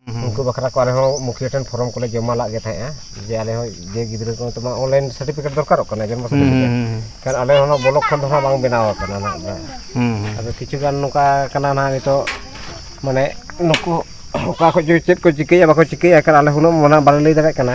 ᱩᱱᱠᱩ ᱵᱟᱠᱷᱨᱟ ᱠᱚ ᱟᱞᱮ ᱦᱚᱸ ᱢᱩᱠᱷᱤᱭᱟᱹ ᱴᱷᱮᱱ ᱯᱷᱚᱨᱚᱢ ᱠᱚᱞᱮ ᱡᱚᱢᱟ ᱞᱟᱜ ᱜᱮ ᱛᱟᱦᱮᱸᱜᱼᱟ ᱡᱮ ᱟᱞᱮ ᱦᱚᱸ ᱡᱮ ᱜᱤᱫᱽᱨᱟᱹ ᱠᱚ ᱛᱚᱢᱟ ᱚᱱᱞᱟᱭᱤᱱ ᱥᱟᱨᱴᱤᱯᱷᱤᱠᱮᱴ ᱫᱚᱨᱠᱟᱨᱚᱜ ᱠᱟᱱᱟ ᱡᱚᱱᱢᱚ ᱥᱟᱨᱴᱤᱯᱷᱤᱠᱮᱴ ᱠᱷᱟᱱ ᱟᱞᱮ ᱦᱚᱸ ᱚᱱᱟ ᱵᱞᱚᱠ ᱠᱷᱚᱱ ᱫᱚ ᱦᱟᱸᱜ ᱵᱟᱝ ᱵᱮᱱᱟᱣ ᱟᱠᱟᱱᱟ ᱱᱟᱜ ᱫᱚ ᱟᱫᱚ ᱠᱤᱪᱷᱩ ᱜᱟᱱ ᱱᱚᱝᱠᱟ ᱠᱟᱱᱟ ᱱᱟᱜ ᱱᱤᱛᱚᱜ ᱢᱟᱱᱮ ᱱᱩᱠᱩ ᱚᱠᱟ ᱠᱷᱚᱱ ᱪᱚ ᱪᱮᱫ ᱠᱚ ᱪᱤᱠᱟᱹᱭᱟ ᱵᱟᱠᱚ ᱪᱤᱠᱟᱹᱭᱟ ᱮᱱᱠᱷᱟᱱ ᱟᱞᱮ ᱦᱚᱸ ᱩᱱᱟᱹᱜ ᱢᱟᱱᱮ ᱵᱟᱞᱮ ᱞᱟᱹᱭ ᱫᱟᱲᱮᱭᱟᱜ ᱠᱟᱱᱟ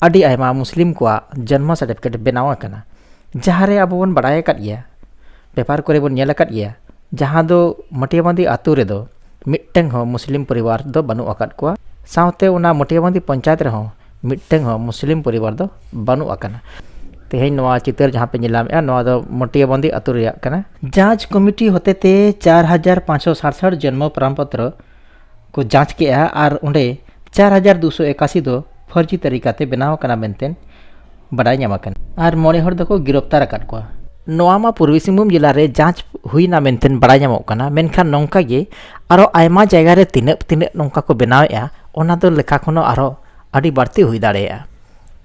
ᱟᱹᱰᱤ ᱟᱭᱢᱟ ᱢᱩᱥᱞᱤᱢ ᱠᱚᱣᱟᱜ ᱡᱚᱱᱢᱚ ᱥᱟᱨᱴᱤᱯᱷᱤᱠᱮᱴ ᱵᱮᱱᱟᱣ ᱟᱠᱟᱱᱟ ᱡᱟᱦᱟᱸ ᱨᱮ ᱟᱵᱚ ᱵᱚᱱ ᱵᱟᱲᱟᱭ ᱟᱠᱟᱫ ᱜᱮᱭᱟ ᱯᱮᱯᱟᱨ ᱠᱚᱨᱮ ᱵᱚᱱ ᱧᱮᱞ ᱟᱠᱟᱫ ᱜᱮᱭᱟ ᱡᱟᱦᱟᱸ ᱫᱚ ᱢᱟᱹᱴᱤᱭᱟᱹᱵᱟᱺᱫᱤ ᱟᱹᱛᱩ ᱨᱮᱫᱚ ᱢᱤᱫᱴᱟᱹᱝ ᱦᱚᱸ ᱢᱩᱥᱞᱤᱢ ᱯᱚᱨᱤᱵᱟᱨ ᱫᱚ ᱵᱟᱹᱱᱩᱜ ᱟᱠᱟᱫ ᱠᱚᱣᱟ ᱥᱟᱶᱛᱮ ᱚᱱᱟ ᱢᱟᱹᱴᱤᱭᱟᱹᱵᱟᱺᱫᱤ ᱯᱚᱧᱪᱟᱭᱮᱛ ᱨᱮᱦᱚᱸ ᱢᱤᱫᱴᱟᱹᱝ ᱦᱚᱸ ᱢᱩᱥᱞᱤᱢ ᱯᱚᱨᱤᱵᱟᱨ ᱫᱚ ᱵᱟᱹᱱᱩᱜ ᱟᱠᱟᱱᱟ ᱛᱮᱦᱮᱧ ᱱᱚᱣᱟ ᱪᱤᱛᱟᱹᱨ ᱡᱟᱦᱟᱸ ᱯᱮ ᱧᱮᱞᱟᱢᱮᱜᱼᱟ ᱱᱚᱣᱟ ᱫᱚ ᱢᱟᱹᱴᱤᱭᱟᱹᱵᱟᱺᱫᱤ ᱟᱹᱛᱩ ᱨᱮᱭᱟᱜ ᱠᱟᱱᱟ ᱡᱟᱡᱽ ᱠᱚᱢᱤᱴᱤ ᱦᱚᱛᱮᱛᱮ ᱪᱟᱨ ᱦᱟᱡᱟᱨ ᱯᱟᱸᱪᱥᱚ ᱥᱟᱛᱥᱟᱴ ᱡᱚᱱᱢᱚ ᱯᱨᱟᱢᱯᱚᱛᱨᱚ ᱠᱚ ᱡᱟᱸᱪ ᱠᱮᱜᱼᱟ ᱟᱨ ᱚᱸᱰᱮ ᱪᱟᱨ ᱦᱟᱡᱟᱨ ᱫᱩᱥᱚ ᱮᱠᱟᱥᱤ ᱫᱚ ᱯᱷᱚᱨᱡᱤ ᱛᱟᱹᱨᱤᱠᱟᱛᱮ ᱵᱮᱱᱟᱣ ᱟᱠᱟᱱᱟ ᱢᱮᱱᱛᱮ ᱵᱟᱰᱟᱭ ᱧᱟᱢ ᱟᱠᱟᱱᱟ ᱟᱨ ᱢᱚᱬᱮ ᱦᱚᱲ ᱫᱚᱠᱚ ᱜᱤᱨᱚᱯᱛᱟᱨ ᱟᱠᱟᱫ ᱠᱚᱣᱟ ᱱᱚᱣᱟ ᱢᱟ ᱯᱩᱨᱵᱤ ᱥᱤᱝᱵᱷᱩᱢ ᱡᱮᱞᱟ ᱨᱮ ᱡᱟᱸᱪ ᱦᱩᱭᱱᱟ ᱢᱮᱱᱛᱮ ᱵᱟᱰᱟᱭ ᱧᱟᱢᱚᱜ ᱠᱟᱱᱟ ᱢᱮᱱᱠᱷᱟᱱ ᱱᱚᱝᱠᱟ ᱜᱮ ᱟᱨᱚ ᱟᱭᱢᱟ ᱡᱟᱭᱜᱟ ᱨᱮ ᱛᱤᱱᱟᱹᱜ ᱛᱤᱱᱟᱹᱜ ᱱᱚᱝᱠᱟ ᱠᱚ ᱵᱮᱱᱟᱣᱮᱜᱼᱟ ᱚᱱᱟ ᱫᱚ ᱞᱮᱠᱷᱟ ᱠᱷᱚᱱ ᱦᱚᱸ ᱟᱨᱚ ᱟᱹᱰᱤ ᱵᱟᱹᱲᱛᱤ ᱦᱩᱭ ᱫᱟᱲᱮᱭᱟᱜᱼᱟ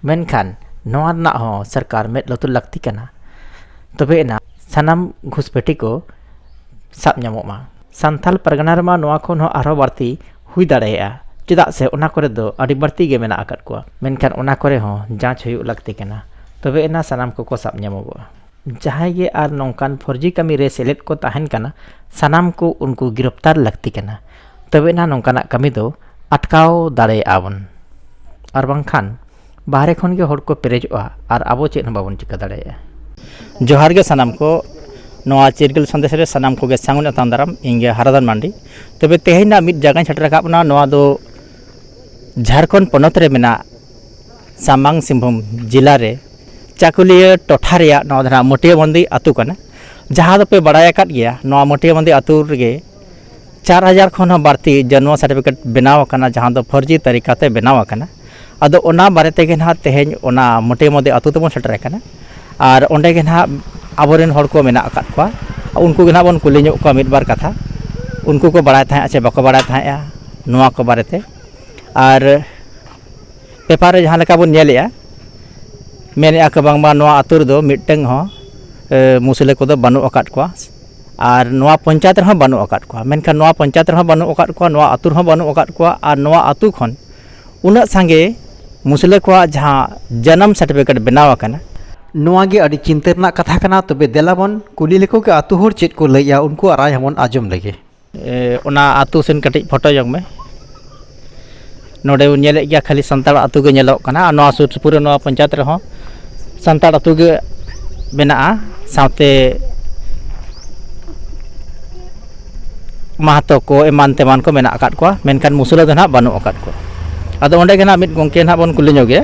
ᱢᱮᱱᱠᱷᱟᱱ ᱱᱚᱣᱟ ᱨᱮᱱᱟᱜ ᱦᱚᱸ ᱥᱚᱨᱠᱟᱨ ᱢᱮᱫ ᱞᱩᱛᱩᱨ ᱞᱟᱹᱠᱛᱤ ᱠᱟᱱᱟ ᱛᱚᱵᱮ ᱮᱱᱟ ᱥᱟᱱᱟᱢ ᱜᱷᱩᱥᱯᱮᱴᱤ ᱠᱚ ᱥᱟᱵ ᱧᱟᱢᱚᱜ ᱢᱟ ᱥᱟᱱᱛᱷᱟᱞ ᱯᱟᱨᱜᱟᱱᱟ ᱨᱮᱢᱟ ᱱᱚᱣᱟ ᱠᱷᱚᱱ ᱦᱚᱸ ᱟᱨᱦᱚᱸ ᱵᱟᱹᱲᱛᱤ ᱦᱩᱭ ᱫᱟᱲᱮᱭᱟᱜᱼᱟ ᱪᱮᱫᱟᱜ ᱥᱮ ᱚᱱᱟ ᱠᱚᱨᱮ ᱫᱚ ᱟᱹᱰᱤ ᱵᱟᱹᱲᱛᱤ ᱜᱮ ᱢᱮᱱᱟᱜ ᱟᱠᱟᱫ ᱠᱚᱣᱟ ᱢᱮᱱᱠᱷᱟᱱ ᱚᱱᱟ ᱠᱚᱨᱮ ᱦᱚᱸ ᱡᱟᱸᱪ ᱦᱩᱭᱩᱜ ᱞᱟᱹᱠᱛᱤ ᱠᱟᱱᱟ ᱛᱚᱵᱮ ᱮᱱᱟ ᱥᱟᱱᱟᱢ ᱠᱚᱠᱚ ᱥᱟᱵ ᱧᱟᱢᱚᱜᱚᱜᱼᱟ ᱡᱟᱦᱟᱸᱭ ᱜᱮ ᱟᱨ ᱱᱚᱝᱠᱟᱱ ᱯᱷᱚᱨᱡᱤ ᱠᱟᱹᱢᱤ ᱨᱮ ᱥᱮᱞᱮᱫ ᱠᱚ ᱛᱟᱦᱮᱱ ᱠᱟᱱᱟ ᱥᱟᱱᱟᱢ ᱠᱚ ᱩᱱᱠᱩ ᱜᱤᱨᱚᱯᱛᱟᱨ ᱞᱟᱹᱠᱛᱤ ᱠᱟᱱᱟ ᱛᱚᱵᱮ ᱮᱱᱟ ᱱᱚᱝᱠᱟᱱᱟᱜ ᱠᱟᱹᱢᱤ ᱫᱚ ᱟᱴᱠᱟᱣ ᱫᱟᱲᱮᱭᱟᱜᱼᱟ ᱵᱚᱱ ᱟᱨ ᱵᱟᱝᱠᱷᱟᱱ ᱵᱟᱦᱨᱮ ᱠᱷᱚᱱ ᱜᱮ ᱦᱚᱲ ᱠᱚ ᱯᱮᱨᱮᱡᱚᱜᱼᱟ ᱟᱨ ᱟᱵᱚ ᱪᱮᱫ ᱦᱚᱸ ᱵᱟᱵᱚᱱ ᱪᱤᱠᱟᱹ ᱫᱟᱲᱮᱭᱟᱜᱼᱟ ᱡᱚᱦᱟᱨ ᱜᱮ ᱥᱟᱱᱟᱢ ᱠᱚ ᱱᱚᱣᱟ ᱪᱤᱨᱜᱟᱹᱞ ᱥᱟᱸᱫᱮᱥ ᱨᱮ ᱥᱟᱱᱟᱢ ᱠᱚᱜᱮ ᱥᱟᱹᱜᱩᱱ ᱟᱛᱟᱝ ᱫᱟᱨᱟᱢ ᱤᱧ ᱜᱮ ᱦᱟᱨᱟᱫᱟᱱ ᱢᱟᱱᱰᱤ ᱛᱚᱵᱮ ᱛᱮᱦᱮᱧ ᱱᱟᱜ ᱢᱤᱫ ᱡᱟᱭᱜᱟᱧ ᱥᱮᱴᱮᱨ ᱟᱠᱟᱫ ᱵᱚᱱᱟ ᱱᱚᱣᱟ ᱫᱚ ᱡᱷᱟᱲᱠᱷᱚᱸᱰ ᱯᱚᱱᱚᱛ ᱨᱮ ᱢᱮᱱᱟᱜ ᱥᱟᱢᱟᱝ ᱥᱤᱝᱵᱷᱩᱢ ᱡᱮᱞᱟ ᱨᱮ ᱪᱟᱹᱠᱩᱞᱤᱭᱟᱹ ᱴᱚᱴᱷᱟ ᱨᱮᱭᱟᱜ ᱱᱚᱣᱟ ᱫᱚ ᱱᱟᱜ ᱢᱟᱹᱴᱤᱭᱟᱹ ᱵᱟᱸᱫᱮ ᱟᱛᱳ ᱠᱟᱱᱟ ᱡᱟᱦᱟᱸ ᱫᱚᱯᱮ ᱵᱟᱲᱟᱭ ᱟᱠᱟᱫ ᱜᱮᱭᱟ ᱱᱚᱣᱟ ᱢᱟᱹᱴᱤᱭᱟᱹ ᱵᱟᱸᱫᱮ ᱟᱛᱳ ᱨᱮᱜᱮ ᱪᱟᱨ ᱦᱟᱡᱟᱨ ᱠᱷᱚᱱ ᱦᱚᱸ ᱵᱟᱹᱲᱛᱤ ᱡᱚᱱᱢᱚ ᱥᱟᱨᱴᱤᱯᱷᱤᱠᱮᱴ ᱵᱮᱱᱟᱣ ᱟᱠᱟᱱᱟ ᱡᱟᱦᱟᱸ ᱫᱚ ᱯᱷᱚᱨᱡᱤ ᱛᱟᱹᱨᱤᱠᱟ ᱛᱮ ᱵᱮᱱᱟᱣ ᱟᱠᱟᱱᱟ ᱟᱫᱚ ᱚᱱᱟ ᱵᱟᱨᱮ ᱛᱮᱜᱮ ᱦᱟᱸᱜ ᱛᱮᱦᱮᱧ ᱚᱱᱟ ᱢᱳᱴᱮ ᱢᱳᱴᱮ ᱟᱛᱳ ᱛᱮᱵᱚᱱ ᱥᱮᱴᱮᱨ ᱟᱠᱟᱱᱟ ᱟᱨ ᱚᱸᱰᱮ ᱜᱮ ᱦᱟᱸᱜ ᱟᱵᱚ ᱨᱮᱱ ᱦᱚᱲ ᱠᱚ ᱢᱮᱱᱟᱜ ᱟᱠᱟᱫ ᱠᱚᱣᱟ ᱩᱱᱠᱩ ᱜᱮ ᱦᱟᱸᱜ ᱵᱚᱱ ᱠᱩᱞᱤ ᱧᱚᱜ ᱠᱚᱣᱟ ᱢᱤᱫ ᱵᱟᱨ ᱠᱟᱛᱷᱟ ᱩᱱᱠᱩ ᱠᱚ ᱵᱟᱲᱟᱭ ᱛᱟᱦᱮᱸᱫ ᱥᱮ ᱵᱟᱠᱚ ᱵᱟᱲᱟᱭ ᱛᱟᱦᱮᱸᱫᱼᱟ ᱱᱚᱣᱟ ᱠᱚ ᱵᱟᱨᱮ ᱛᱮ ᱟᱨ ᱯᱮᱯᱟᱨ ᱨᱮ ᱡᱟᱦᱟᱸ ᱞᱮᱠᱟ ᱵᱚᱱ ᱧᱮᱞᱮᱫᱼᱟ ᱢᱮᱱᱮᱫᱼᱟ ᱠᱚ ᱵᱟᱝᱢᱟ ᱱᱚᱣᱟ ᱟᱛᱳ ᱨᱮᱫᱚ ᱢᱤᱫᱴᱟᱹᱝ ᱦᱚᱸ ᱢᱩᱥᱞᱟᱹ ᱠᱚᱫᱚ ᱵᱟᱹᱱᱩᱜ ᱟᱠᱟᱫ ᱠᱚᱣᱟ ᱟᱨ ᱱᱚᱣᱟ ᱯᱚᱧᱪᱟᱭᱮᱛ ᱨᱮᱦᱚᱸ ᱵᱟᱹᱱᱩᱜ ᱟᱠᱟᱫ ᱠᱚᱣᱟ ᱢᱮᱱᱠᱷᱟᱱ ᱱᱚᱣᱟ ᱯᱚᱧᱪᱟᱭᱮᱛ ᱨᱮᱦᱚᱸ ᱵᱟᱹᱱᱩᱜ ᱟᱠᱟᱫ ᱠᱚᱣᱟ ᱱᱚᱣᱟ ᱟᱹᱛᱩ ᱨᱮᱦᱚᱸ ᱵᱟᱹᱱᱩᱜ ᱟᱠᱟᱫ ᱠᱚᱣᱟ ᱟᱨ ᱱᱚᱣᱟ ᱟᱹᱛᱩ ᱠᱷᱚᱱ ᱩᱱᱟᱹᱜ ᱥᱟᱸᱜᱮ ᱢᱩᱥᱞᱟᱹ ᱠᱚᱣᱟᱜ ᱡᱟᱦᱟᱸ ᱡᱟᱱᱟᱢ ᱥᱟᱨᱴᱤᱯᱷᱤᱠᱮᱴ ᱵᱮᱱᱟᱣ ᱟᱠᱟᱱᱟ ᱱᱚᱣᱟ ᱜᱮ ᱟᱹᱰᱤ ᱪᱤᱱᱛᱟᱹ ᱨᱮᱱᱟᱜ ᱠᱟᱛᱷᱟ ᱠᱟᱱᱟ ᱛᱚᱵᱮ ᱫᱮᱞᱟ ᱵᱚᱱ ᱠᱩᱞᱤ ᱞᱮᱠᱚ ᱜᱮ ᱟᱹᱛᱩ ᱦᱚᱲ ᱪᱮᱫ ᱠᱚ ᱞᱟᱹᱭᱮᱫᱼᱟ ᱩᱱᱠᱩᱣᱟᱜ ᱨᱟᱭ ᱦᱚᱸᱵᱚᱱ ᱟᱸᱡᱚᱢ ᱞᱮᱜᱮ ᱚᱱᱟ ᱟᱹᱛᱩ ᱥᱮᱱ ᱠᱟᱹᱴᱤᱡ ᱯᱷᱳᱴᱳ ᱧᱚᱜᱽ ᱢᱮ ᱱᱚᱰᱮ ᱵᱚᱱ ᱧᱮᱞᱮᱫ ᱜᱮᱭᱟ ᱠᱷᱟᱹᱞᱤ ᱥᱟᱱᱛᱟᱲ ᱟᱹᱛᱩ ᱜᱮ ᱧᱮᱞᱚᱜ ᱠᱟᱱᱟ ᱟᱨ ᱱᱚᱣᱟ ᱥᱩᱨ ᱥᱩᱯᱩᱨ ᱨᱮ ᱱᱚᱣᱟ ᱯᱚᱧᱪᱟᱭᱮᱛ ᱨᱮᱦᱚᱸ ᱥᱟᱱᱛᱟᱲ ᱟᱹᱛᱩ ᱜᱮ ᱢᱮᱱᱟᱜᱼᱟ ᱥᱟᱶᱛᱮ ᱢᱟᱦᱟᱛᱚ ᱠᱚ ᱮᱢᱟᱱ ᱛᱮᱢᱟᱱ ᱠᱚ ᱢᱮᱱᱟᱜ ᱟᱠᱟᱫ ᱠᱚᱣᱟ ᱢᱮᱱᱠᱷᱟᱱ ᱢᱩᱥᱞᱟᱹ ᱫᱚ ᱦᱟᱸᱜ ᱵᱟᱹᱱᱩᱜ ᱟᱠᱟᱫ ᱠᱚᱣᱟ ᱟᱫᱚ ᱚᱸᱰᱮ ᱜᱮ ᱦᱟᱸᱜ ᱢᱤᱫ ᱜᱚᱢᱠᱮ ᱦᱟᱸᱜ ᱵᱚᱱ ᱠᱩᱞᱤ ᱧᱚᱜᱮᱭᱟ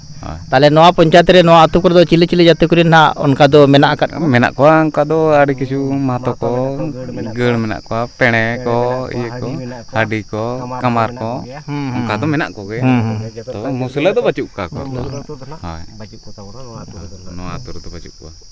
ᱛᱟᱦᱚᱞᱮ ᱱᱚᱣᱟ ᱯᱚᱧᱪᱟᱭᱮᱛ ᱨᱮ ᱱᱚᱣᱟ ᱟᱹᱛᱩ ᱠᱚᱨᱮ ᱫᱚ ᱪᱤᱞᱤ ᱪᱤᱞᱤ ᱡᱟᱹᱛᱤ ᱠᱚᱨᱮᱱ ᱱᱟᱜ ᱚᱱᱠᱟ ᱫᱚ ᱢᱮᱱᱟᱜ ᱟᱠᱟᱫ ᱠᱚᱣᱟ ᱢᱮᱱᱟᱜ ᱠᱚᱣᱟ ᱚᱱᱠᱟ ᱫᱚ ᱟᱹᱰᱤ ᱠᱤᱪᱷᱩ ᱢᱟᱦᱟᱛᱚ ᱠᱚ ᱜᱟᱹᱲ ᱢᱮᱱᱟᱜ ᱠᱚᱣᱟ ᱯᱮᱬᱮ ᱠᱚ ᱤᱭᱟᱹ ᱠᱚ ᱦᱟᱹᱰᱤ ᱠᱚ ᱠᱟᱢᱟᱨ ᱠᱚ ᱚᱱᱠᱟ ᱫᱚ ᱢᱮᱱᱟᱜ ᱠᱚᱜᱮ ᱛᱚ ᱢᱩᱥᱞᱟᱹ ᱫᱚ ᱵᱟᱹᱪᱩᱜ ᱠᱟᱜ ᱠᱚᱣᱟ ᱦᱳᱭ ᱱᱚᱣᱟ ᱟᱹᱛᱩ ᱨᱮᱫᱚ ᱵᱟᱹᱪᱩᱜ ᱠᱚᱣᱟ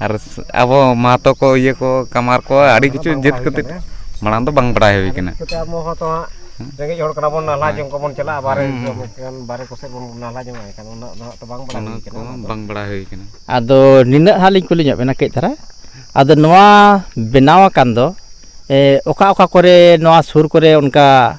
ᱟᱨ ᱟᱵᱚ ᱢᱟᱦᱟᱛᱚ ᱠᱚ ᱤᱭᱟᱹ ᱠᱚ ᱠᱟᱢᱟᱨ ᱠᱚ ᱟᱹᱰᱤ ᱠᱤᱪᱷᱩ ᱡᱟᱹᱛ ᱠᱟᱛᱮ ᱢᱟᱲᱟᱝ ᱫᱚ ᱵᱟᱝ ᱵᱟᱲᱟᱭ ᱦᱩᱭ ᱠᱟᱱᱟ ᱟᱵᱚ ᱦᱚᱸ ᱛᱚ ᱦᱟᱸᱜ ᱨᱮᱸᱜᱮᱡ ᱦᱚᱲ ᱠᱟᱱᱟ ᱵᱚᱱ ᱱᱟᱞᱦᱟ ᱡᱚᱝ ᱠᱚᱵᱚᱱ ᱪᱟᱞᱟᱜᱼᱟ ᱵᱟᱨᱦᱮ ᱵᱟᱨᱦᱮ ᱠᱚᱥᱮᱫ ᱵᱚᱱ ᱱᱟᱞᱦᱟ ᱡᱚᱝᱼᱟ ᱮᱱᱠᱷᱟᱱ ᱩᱱᱟᱹᱜ ᱫᱚ ᱦᱟᱸᱜ ᱛᱚ ᱵᱟᱝ ᱵᱟᱲᱟᱭ ᱦᱩᱭ ᱠᱟᱱᱟ ᱚᱱᱟ ᱠᱚ ᱵᱟᱝ ᱵᱟᱲᱟᱭ ᱦᱩᱭ ᱠᱟᱱᱟ ᱟᱫᱚ ᱱᱤᱱᱟᱹᱜ ᱦᱟᱸᱜ ᱞᱤᱧ ᱠᱩᱞᱤ ᱧᱚᱜ ᱵᱮᱱᱟ ᱠᱟᱹᱡ ᱫᱷᱟᱨᱟ ᱟᱫᱚ ᱱᱚᱣᱟ ᱵᱮᱱᱟᱣ ᱟᱠᱟᱱ ᱫᱚ ᱚᱠᱟ ᱚᱠᱟ ᱠᱚᱨᱮ ᱱᱚᱣᱟ ᱥᱩᱨ ᱠᱚᱨᱮ ᱚᱱᱠᱟ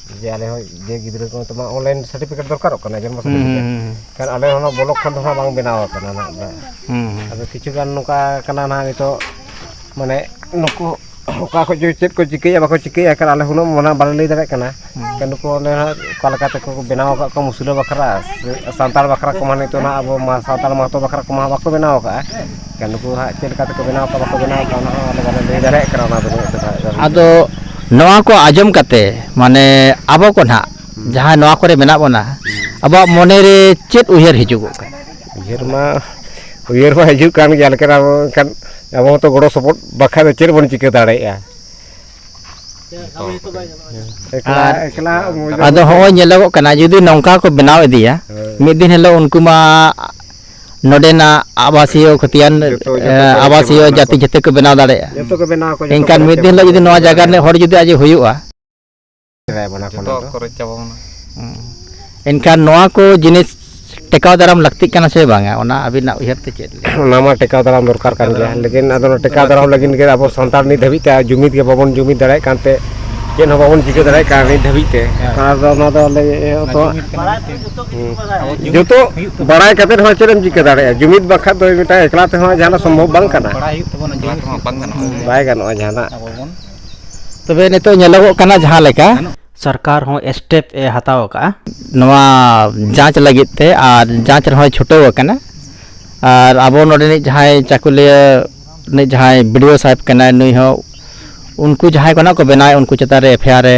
ᱡᱮ ᱟᱞᱮ ᱦᱚᱸ ᱡᱮ ᱜᱤᱫᱽᱨᱟᱹ ᱠᱚ ᱛᱚᱢᱟ ᱚᱱᱞᱟᱭᱤᱱ ᱥᱟᱨᱴᱤᱯᱷᱤᱠᱮᱴ ᱫᱚᱨᱠᱟᱨᱚᱜ ᱠᱟᱱᱟ ᱡᱚᱱᱢᱚ ᱥᱟᱨᱴᱤᱯᱷᱤᱠᱮᱴ ᱠᱷᱟᱱ ᱟᱞᱮ ᱦᱚᱸ ᱱᱚᱣᱟ ᱵᱞᱚᱠ ᱠᱷᱚᱱ ᱫᱚ ᱦᱟᱸᱜ ᱵᱟᱝ ᱵᱮᱱᱟᱣ ᱟᱠᱟᱱᱟ ᱱᱟᱦᱟᱜ ᱫᱚ ᱟᱫᱚ ᱠᱤᱪᱷᱩ ᱜᱟᱱ ᱱᱚᱝᱠᱟ ᱠᱟᱱᱟ ᱱᱟᱦᱟᱜ ᱱᱤᱛᱚᱜ ᱢᱟᱱᱮ ᱱᱩᱠᱩ ᱚᱠᱟ ᱠᱷᱚᱱ ᱪᱚ ᱪᱮᱫ ᱠᱚ ᱪᱤᱠᱟᱹᱭᱟ ᱵᱟᱠᱚ ᱪᱤᱠᱟᱹᱭᱟ ᱮᱱᱠᱷᱟᱱ ᱟᱞᱮ ᱦᱩᱱᱟᱹᱝ ᱢᱟᱱᱮ ᱵᱟᱞᱮ ᱞᱟᱹᱭ ᱫᱟᱲᱮᱭᱟᱜ ᱠᱟᱱᱟ ᱮᱱᱠᱷᱟᱱ ᱱᱩᱠᱩ ᱚᱱᱮ ᱦᱟᱸᱜ ᱚᱠᱟ ᱞᱮᱠᱟ ᱛᱮᱠᱚ ᱵᱮᱱᱟᱣ ᱟᱠᱟᱫ ᱠᱚᱣᱟ ᱢᱩᱥᱞᱟᱹ ᱵᱟᱠᱷᱨᱟ ᱥᱟᱱᱛᱟᱲ ᱵᱟᱠᱷᱨᱟ ᱠᱚᱢᱟ ᱱᱤᱛᱚᱜ ᱱᱟᱦᱟᱜ ᱟᱵᱚ ᱢᱟ ᱥᱟᱱᱛᱟᱲ ᱢᱟᱦᱟᱛᱚ ᱵᱟᱠᱷᱨᱟ ᱠᱚᱢᱟ ᱵᱟᱠᱚ ᱵᱮᱱᱟᱣ ᱟᱠᱟᱫᱼᱟ ᱟᱫᱚ ᱱᱚᱣᱟ ᱠᱚ ᱟᱸᱡᱚᱢ ᱠᱟᱛᱮ ᱢᱟᱱᱮ ᱟᱵᱚ ᱠᱚ ᱱᱟᱦᱟᱜ ᱡᱟᱦᱟᱸᱭ ᱱᱚᱣᱟ ᱠᱚᱨᱮ ᱢᱮᱱᱟᱜ ᱵᱚᱱᱟ ᱟᱵᱚᱣᱟᱜ ᱢᱚᱱᱮ ᱨᱮ ᱪᱮᱫ ᱩᱭᱦᱟᱹᱨ ᱦᱤᱡᱩᱜᱚᱜ ᱠᱟᱱᱟ ᱩᱭᱦᱟᱹᱨ ᱢᱟ ᱩᱭᱦᱟᱹᱨ ᱢᱟ ᱦᱤᱡᱩᱜ ᱠᱟᱱ ᱜᱮᱭᱟ ᱞᱮᱠᱤᱱ ᱟᱵᱚ ᱮᱱᱠᱷᱟᱱ ᱟᱵᱚ ᱦᱚᱸᱛᱚ ᱜᱚᱲᱚ ᱥᱚᱯᱚᱦᱚᱫ ᱵᱟᱠᱷᱟᱱ ᱫᱚ ᱪᱮᱫ ᱵᱚᱱ ᱪᱤᱠᱟᱹ ᱫᱟᱲᱮᱭᱟᱜᱼᱟ ᱟᱫᱚ ᱦᱚᱸᱜᱼᱚᱭ ᱧᱮᱞᱚᱜᱚᱜ ᱠᱟᱱᱟ ᱡᱩᱫᱤ ᱱᱚᱝᱠᱟ ᱠᱚ ᱵᱮᱱᱟᱣ ᱤᱫᱤᱭᱟ ᱢᱤᱫ ᱫᱤᱱ ᱦᱤᱞᱳᱜ ᱩᱱᱠᱩ ᱢᱟ ᱱᱚᱰᱮᱱᱟᱜ ᱟᱵᱟᱥᱤᱭᱚ ᱠᱷᱚᱛᱤᱭᱟᱱ ᱟᱵᱟᱥᱤᱭᱚ ᱡᱟᱹᱛᱤ ᱡᱟᱹᱛᱤ ᱠᱚ ᱵᱮᱱᱟᱣ ᱫᱟᱲᱮᱭᱟᱜᱼᱟ ᱡᱚᱛᱚ ᱠᱚ ᱵᱮᱱᱟᱣ ᱠᱚ ᱮᱱᱠᱷᱟᱱ ᱢᱤᱫ ᱫᱤᱱ ᱦᱤᱞᱳᱜ ᱡᱩᱫᱤ ᱱᱚᱣᱟ ᱡᱟᱭᱜᱟ ᱨᱤᱱᱤᱡ ᱦᱚᱲ ᱡᱩᱫᱤ ᱟᱡ ᱦᱩᱭᱩᱜᱼᱟ ᱮᱱᱠᱷᱟᱱ ᱱᱚᱣᱟ ᱠᱚ ᱡᱤᱱᱤᱥ ᱴᱮᱠᱟᱣ ᱫᱟᱨᱟᱢ ᱞᱟᱹᱠᱛᱤᱜ ᱠᱟᱱᱟ ᱥᱮ ᱵᱟᱝᱟ ᱚᱱᱟ ᱟᱹᱵᱤᱱᱟᱜ ᱩᱭᱦᱟᱹᱨ ᱛᱮ ᱪᱮᱫ ᱚᱱᱟ ᱢᱟ ᱴᱮᱠᱟᱣ ᱫᱟᱨᱟᱢ ᱫᱚᱨᱠᱟᱨ ᱠᱟᱱ ᱜᱮᱭᱟ ᱞᱮᱠᱤᱱ ᱟᱫᱚ ᱴᱮᱠᱟᱣ ᱫᱟᱨᱟᱢ ᱞᱟᱹᱜᱤᱫ ᱜᱮ ᱟᱵᱚ ᱥᱟᱱᱛᱟᱲ ᱱᱤᱛ ᱫᱷᱟᱹᱵᱤᱡ ᱛᱮ ᱡᱩᱢᱤᱫ ᱜᱮ ᱵᱟᱵᱚᱱ ᱡᱩᱢᱤᱫ ᱫᱟᱲᱮᱭᱟᱜ ᱠᱟᱱᱛᱮ ᱪᱮᱫ ᱦᱚᱸ ᱵᱟᱵᱚᱱ ᱪᱤᱠᱟᱹ ᱫᱟᱲᱮᱭᱟᱜ ᱠᱟᱱᱟ ᱱᱤᱛ ᱫᱷᱟᱹᱵᱤᱡ ᱛᱮ ᱟᱫᱚ ᱚᱱᱟ ᱫᱚ ᱟᱞᱮ ᱡᱚᱛᱚ ᱵᱟᱲᱟᱭ ᱠᱟᱛᱮ ᱦᱚᱸ ᱪᱮᱫ ᱮᱢ ᱪᱤᱠᱟᱹ ᱫᱟᱲᱮᱭᱟᱜᱼᱟ ᱡᱩᱢᱤᱫ ᱵᱟᱠᱷᱟᱡ ᱫᱚ ᱢᱤᱫᱴᱟᱝ ᱮᱠᱞᱟ ᱛᱮᱦᱚᱸ ᱡᱟᱦᱟᱱᱟᱜ ᱥᱚᱢᱵᱷᱚᱵ ᱵᱟᱝ ᱠᱟᱱᱟ ᱵᱟᱭ ᱜᱟᱱᱚᱜᱼᱟ ᱡᱟᱦᱟᱱᱟᱜ ᱛᱚᱵᱮ ᱱᱤᱛᱚᱜ ᱧᱮᱞᱚᱜᱚᱜ ᱠᱟᱱᱟ ᱡᱟᱦᱟᱸ ᱞᱮᱠᱟ ᱥᱚᱨᱠᱟᱨ ᱦᱚᱸ ᱥᱴᱮᱯ ᱮ ᱦᱟᱛᱟᱣ ᱟᱠᱟᱫᱼᱟ ᱱᱚᱣᱟ ᱡᱟᱸᱪ ᱞᱟᱹᱜᱤᱫ ᱛᱮ ᱟᱨ ᱡᱟᱸᱪ ᱨᱮᱦᱚᱸ ᱪᱷᱩᱴᱟᱹᱣ ᱟᱠᱟᱱᱟ ᱟᱨ ᱟᱵᱚ ᱱᱚᱰᱮᱱᱤᱡ ᱡᱟᱦᱟᱸᱭ ᱪᱟᱹᱠᱩᱞᱤᱭᱟᱹ ᱨᱤᱱᱤᱡ ᱡᱟᱦᱟᱸᱭ ᱵᱤᱰᱤᱭᱳ ᱥᱟᱦᱮᱵᱽ ᱠᱟᱱᱟᱭ ᱱᱩᱭ ᱦᱚᱸ ᱩᱱᱠᱩ ᱡᱟᱦᱟᱸᱭ ᱠᱚ ᱱᱟᱦᱟᱜ ᱠᱚ ᱵᱮᱱᱟᱣᱮᱫ ᱩᱱᱠᱩ ᱪᱮᱛᱟᱱ ᱨᱮ ᱮᱯᱷ ᱟᱭ ᱟᱨ ᱮ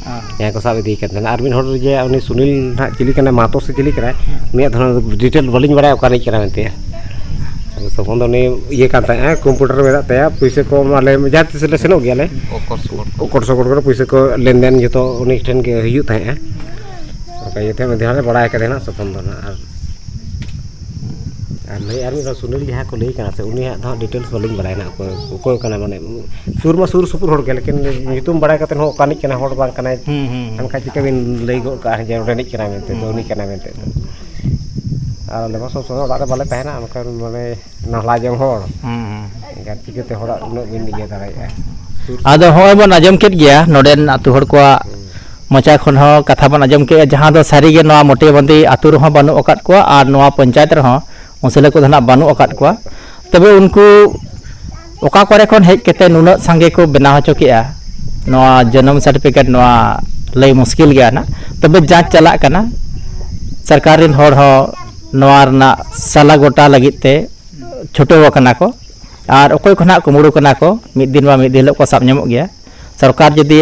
ᱡᱟᱦᱟᱸᱭ ᱠᱚ ᱥᱟᱵ ᱤᱫᱤᱭ ᱠᱟᱱ ᱛᱟᱦᱮᱱᱟ ᱟᱨ ᱢᱤᱫ ᱦᱚᱲ ᱡᱮ ᱩᱱᱤ ᱥᱩᱱᱤᱞ ᱱᱟᱦᱟᱜ ᱪᱤᱞᱤ ᱠᱟᱱᱟᱭ ᱢᱟᱦᱟᱛᱚ ᱥᱮ ᱪᱤᱞᱤ ᱠᱟᱱᱟᱭ ᱩᱱᱤᱭᱟᱜ ᱫᱷᱚᱨᱚᱱ ᱰᱤᱴᱮᱞ ᱵᱟᱹᱞᱤᱧ ᱵᱟᱲᱟᱭᱟ ᱚᱠᱟ ᱨᱤᱱᱤᱡ ᱠᱟᱱᱟᱭ ᱢᱮᱱᱛᱮ ᱟᱫᱚ ᱛᱚᱠᱷᱚᱱ ᱫᱚ ᱩᱱᱤ ᱤᱭᱟᱹ ᱠᱟᱱ ᱛᱟᱦᱮᱸᱫᱼᱮ ᱠᱚᱢᱯᱩᱴᱟᱨ ᱢᱮᱱᱟᱜ ᱛᱟᱭᱟ ᱯᱩᱭᱥᱟᱹ ᱠᱚ ᱟᱞᱮ ᱡᱟᱦᱟᱸ ᱛᱤᱥ ᱞᱮ ᱥᱮᱱᱚᱜ ᱜᱮᱭᱟᱞᱮ ᱚᱠᱚᱴ ᱥᱚᱠᱚᱴ ᱠᱚᱨᱮ ᱯᱩᱭᱥᱟᱹ ᱠᱚ ᱞᱮᱱᱫᱮᱱ ᱡᱚᱛᱚ ᱩᱱᱤ ᱴᱷᱮᱱ ᱜᱮ ᱦᱩᱭᱩᱜ ᱛᱟᱦᱮᱸᱫᱼᱟ ᱚᱱᱠᱟ ᱤᱭᱟᱹᱛᱮ ᱢᱤᱫ ᱫᱷᱟᱣ ᱞᱮ ᱵᱟᱲᱟᱭ ᱠᱟᱫᱮᱭᱟ ᱱᱟᱦᱟᱜ ᱛᱚᱠᱷᱚᱱ ᱫᱚ ᱱᱟᱦᱟᱜ ᱟᱨ ᱟᱨ ᱞᱟᱹᱭ ᱟᱨ ᱢᱤᱫ ᱫᱷᱟᱣ ᱥᱩᱱᱤᱞ ᱡᱟᱦᱟᱸ ᱠᱚ ᱞᱟᱹᱭᱮ ᱠᱟᱱᱟ ᱥᱮ ᱩᱱᱤᱭᱟᱜ ᱫᱚ ᱦᱟᱸᱜ ᱰᱤᱴᱮᱞᱥ ᱵᱟᱹᱞᱤᱧ ᱵᱟᱲᱟᱭᱟ ᱱᱟᱜ ᱚᱠᱚᱭ ᱚᱠᱚᱭ ᱠᱟᱱᱟᱭ ᱢᱟᱱᱮ ᱥᱩᱨ ᱢᱟ ᱥᱩᱨ ᱥᱩᱯᱩᱨ ᱦᱚᱲ ᱜᱮ ᱞᱮᱠᱤᱱ ᱧᱩᱛᱩᱢ ᱵᱟᱲᱟᱭ ᱠᱟᱛᱮ ᱦᱚᱸ ᱚᱠᱟ ᱨᱤᱱᱤᱡ ᱠᱟᱱᱟᱭ ᱦᱚᱲ ᱵᱟᱝ ᱠᱟᱱᱟᱭ ᱮᱱᱠᱷᱟᱱ ᱪᱤᱠᱟᱹ ᱵᱤᱱ ᱞᱟᱹᱭ ᱜᱚᱫ ᱠᱟᱜᱼᱟ ᱡᱮ ᱱᱚᱸᱰᱮ ᱨᱤᱱᱤᱡ ᱠᱟᱱᱟᱭ ᱢᱮᱱᱛᱮ ᱫᱚ ᱩᱱᱤ ᱠᱟᱱᱟᱭ ᱢᱮᱱᱛᱮ ᱫᱚ ᱟᱨ ᱟᱞᱮ ᱢᱟ ᱥᱚᱵ ᱥᱚᱢᱚᱭ ᱚᱲᱟᱜ ᱨᱮ ᱵᱟᱞᱮ ᱛᱟᱦᱮᱱᱟ ᱢᱮᱱᱠᱷᱟᱱ ᱢᱟᱱᱮ ᱱᱟᱞᱦᱟ ᱡᱚᱝ ᱦᱚᱲ ᱮᱱᱠᱷᱟᱱ ᱪᱤᱠᱟᱹᱛᱮ ᱦᱚᱲᱟᱜ ᱩᱱᱟᱹᱜ ᱵᱤᱱ ᱤᱭᱟᱹ ᱫᱟᱲᱮᱭᱟᱜᱼᱟ ᱟᱫᱚ ᱦᱚᱸᱜᱼᱚᱭ ᱵᱚᱱ ᱟᱸᱡᱚᱢ ᱠᱮᱫ ᱜᱮᱭᱟ ᱱᱚᱰᱮᱱ ᱟᱛᱳ ᱦᱚᱲ ᱠᱚᱣᱟᱜ ᱢᱚᱪᱟ ᱠᱷᱚᱱ ᱦᱚᱸ ᱠᱟᱛᱷᱟ ᱵᱚᱱ ᱟᱸᱡᱚᱢ ᱠᱮᱫᱼᱟ ᱡᱟᱦᱟᱸ ᱫᱚ ᱥᱟᱹᱨᱤᱜᱮ ᱱᱚᱣᱟ ᱢᱚᱴᱮᱵᱟᱸᱫᱤ ᱟᱛᱳ ᱨᱮᱦᱚᱸ ᱵᱟᱹᱱᱩᱜ ᱟᱠᱟᱫ ᱠᱚᱣᱟ ᱟᱨ ᱱᱚᱣᱟ ᱯᱚᱧᱪᱟᱭᱮᱛ ᱨᱮᱦᱚᱸ ᱢᱩᱥᱞᱟᱹ ᱠᱚᱫᱚ ᱱᱟᱜ ᱵᱟᱹᱱᱩᱜ ᱟᱠᱟᱫ ᱠᱚᱣᱟ ᱛᱚᱵᱮ ᱩᱱᱠᱩ ᱚᱠᱟ ᱠᱚᱨᱮ ᱠᱷᱚᱱ ᱦᱮᱡ ᱠᱟᱛᱮ ᱱᱩᱱᱟᱹᱜ ᱥᱟᱸᱜᱮ ᱠᱚ ᱵᱮᱱᱟᱣ ᱦᱚᱪᱚ ᱠᱮᱜᱼᱟ ᱱᱚᱣᱟ ᱡᱚᱱᱚᱢ ᱥᱟᱨᱴᱤᱯᱷᱤᱠᱮᱴ ᱱᱚᱣᱟ ᱞᱟᱹᱭ ᱢᱩᱥᱠᱤᱞ ᱜᱮᱭᱟ ᱱᱟᱜ ᱛᱚᱵᱮ ᱡᱟᱸᱪ ᱪᱟᱞᱟᱜ ᱠᱟᱱᱟ ᱥᱚᱨᱠᱟᱨ ᱨᱮᱱ ᱦᱚᱲ ᱦᱚᱸ ᱱᱚᱣᱟ ᱨᱮᱱᱟᱜ ᱥᱟᱞᱟ ᱜᱚᱴᱟ ᱞᱟᱹᱜᱤᱫ ᱛᱮ ᱪᱷᱩᱴᱟᱹᱣ ᱟᱠᱟᱱᱟ ᱠᱚ ᱟᱨ ᱚᱠᱚᱭ ᱠᱚ ᱱᱟᱜ ᱠᱩᱢᱵᱽᱲᱩ ᱠᱟᱱᱟ ᱠᱚ ᱢᱤᱫ ᱫᱤᱱ ᱵᱟᱝ ᱢᱤᱫ ᱫᱤᱱ ᱦᱤᱞᱳᱜ ᱠᱚ ᱥᱟᱵ ᱧᱟᱢᱚᱜ ᱜᱮᱭᱟ ᱥᱚᱨᱠᱟᱨ ᱡᱩᱫᱤ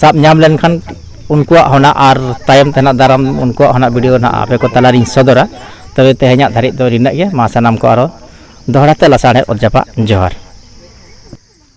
ᱥᱟᱵ ᱧᱟᱢ ᱞᱮᱱᱠᱷᱟᱱ ᱩᱱᱠᱩᱣᱟᱜ ᱦᱚᱸ ᱱᱟᱜ ᱟᱨ ᱛᱟᱭᱚᱢ ᱛᱮ ᱱᱟᱜ ᱫᱟᱨᱟᱢ ᱩᱱᱠᱩᱣᱟᱜ ᱦᱚᱸ ᱱᱟᱜ ᱵᱷᱤᱰᱤᱭᱳ ᱱᱟᱜ ᱟᱯᱮ ᱠᱚ ᱛᱟᱞᱟ ᱨᱤᱧ ᱥᱚᱫᱚᱨᱟ ᱛᱚᱵᱮ ᱛᱮᱦᱮᱧᱟᱜ ᱫᱷᱟᱹᱨᱤᱡ ᱫᱚ ᱱᱤᱱᱟᱹᱜ ᱜᱮ ᱢᱟ ᱥᱟᱱᱟᱢ ᱠᱚ ᱟᱨᱚ ᱫᱚᱦᱲᱟ ᱛᱮ ᱞᱟᱥᱟᱲᱦᱮᱫ ᱚᱛ ᱡᱟᱯᱟᱜ ᱡᱚᱦᱟᱨ